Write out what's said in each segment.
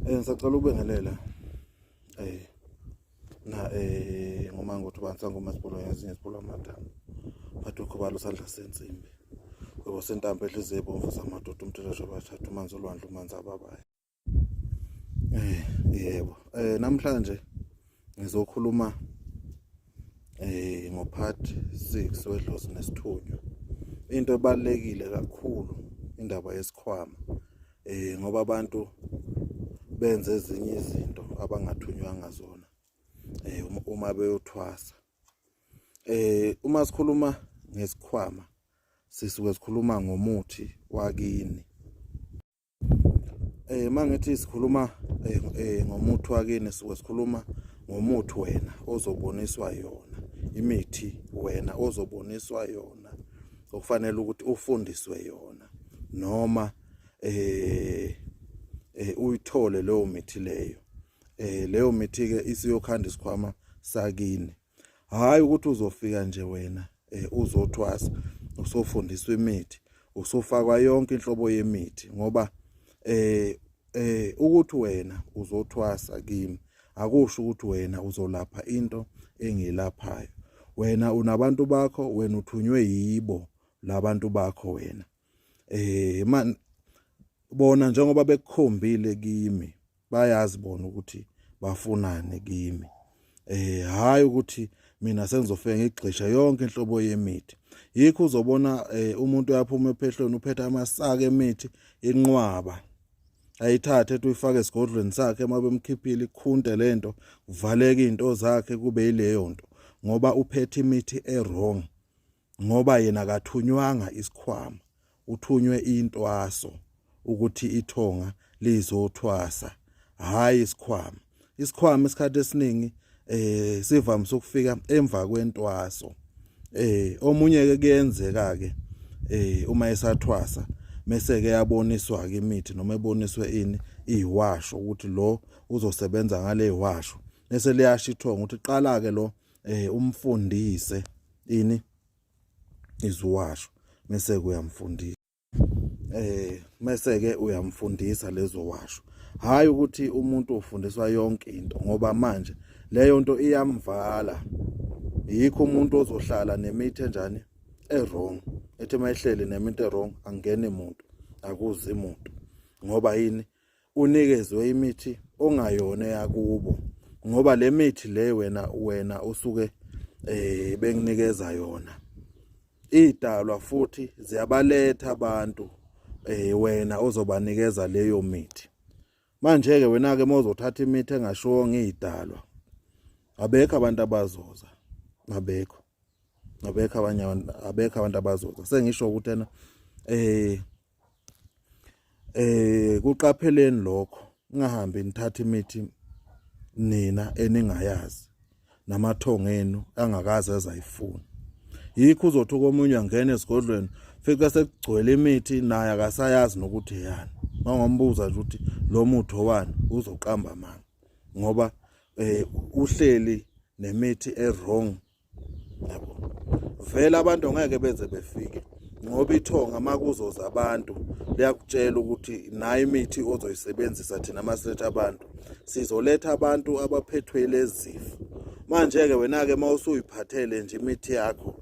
Eh ngisacela ukubengelela. Eh na eh ngoma ngothi bantu sangoma sibolo yazinye sibolo amathambo. Bathi ukhubalo sandla sensimbi. Kwebo sentambo edlize ebomvu samadoda umthelesho bathatha umanzi olwandle umanzi ababaye. Eh yebo. Eh namhlanje ngizokhuluma eh ngo part 6 wedlozi nesithunywa. Into ebalekile kakhulu indaba yesikhwama. eh ngoba abantu benze ezinye izinto abangathunywanga zona eh um, uma beyothwasa eh uma sikhuluma ngesikhwama sisuke sikhuluma ngomuthi wakini eh mangithi sikhuluma eh, eh, ngomuthi wakini sisuke sikhuluma ngomuthi wena ozoboniswa yona imithi wena ozoboniswa yona okufanele ukuthi ufundiswe yona noma eh eh uyithole leyo mithi leyo eh leyo mithi ke isiyokhanda isikhwama sakini hayi ukuthi uzofika nje wena eh uzothwasa usofundiswa imithi usofakwa yonke inhlobo yemithi ngoba eh eh ukuthi wena uzothwasa kimi akusho ukuthi wena uzolapha into engilaphayo wena unabantu bakho wena uthunywe yibo labantu bakho wena eh man bona njengoba bekukhombile kimi bayazi bona ukuthi bafunani kimi eh hayi ukuthi mina sengizofika ngigxisha yonke inhlobo yemithi yikho uzobona eh, umuntu uyaphuma ephehlweni uphethe amasaka emithi inqwaba ayithathe ethi uyifake esigodlweni sakhe uma bemkhiphile ikhunte lento kuvaleke izinto zakhe kube yileyo nto ngoba uphethe imithi ewrong ngoba yena akathunywanga isikhwama uthunywe intwaso ukuthi ithonga lizothwasa hayi isikhwama isikhwama isikhathi esiningi eh sivamise ukufika emva kwentwaso eh omunye ke kuyenzeka ke eh uma esathwasa mese ke yaboniswa ke imithi noma eboniswe ini iwasho ukuthi lo uzosebenza ngale iwasho bese liyashithonga ukuthi qala ke lo eh umfundise ini iziwasho mese kuyamfundisa eh mese ke uyamfundisa lezo washo hayi ukuthi umuntu ufundiswa yonke into ngoba manje leyo nto iyamvala yikho umuntu ozohlala nemithi enjani ewrong ethi mayihleli neminto ewrong angene muntu akuzi muntu ngoba yini unikezwe imithi ongayona yakubo ngoba le mithi le wena wena usuke eh benginikeza yona idalwa futhi ziyabaletha abantu eh wena ozobanikeza leyo mithi manje ke wena ke mozothatha imithi engashiwo ngidalwa abekho abantu abazoza abekho abekho abanye abekho abantu abazoza sengisho ukuthi ena eh eh kuqapheleni lokho ningahambi nithatha imithi nina eningayazi namathongo enu angakaze azayifuna yikho uzothi komunye angena esigodlweni fika sekugcwele imithi naye akasayazi nokuthi yani mangombuza nje ukuthi lo muthi owani uzoqamba manga ngoba eh uhleli nemithi ewrong vele abantu ngeke beze befike ngoba ithonga makuzoza abantu liyakutshela ukuthi nayo imithi ozoyisebenzisa thina masethe abantu sizoletha abantu abaphethwe lezifo manje ke wena ke mawusuyiphathele nje imithi yakho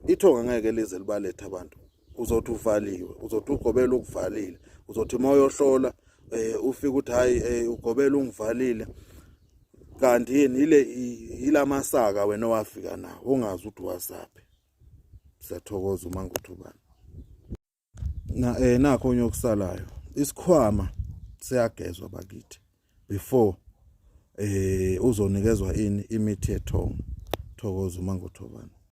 ithonga ngeke lize libalethe abantu uzothi uvaliwe uzothi ugobela ukuvalile uzothi mawuyohlola eh ufika ukuthi hayi eh, ugobela ungivalile kanti yini ile ilamasaka wena owafika nawo ongazi ukuthi wasaphi siyathokoza uma nguthubana na eh nakho onye okusalayo isikhwama siyagezwa bakithi before eh uzonikezwa ini imithi yethongo thokoza uma nguthubana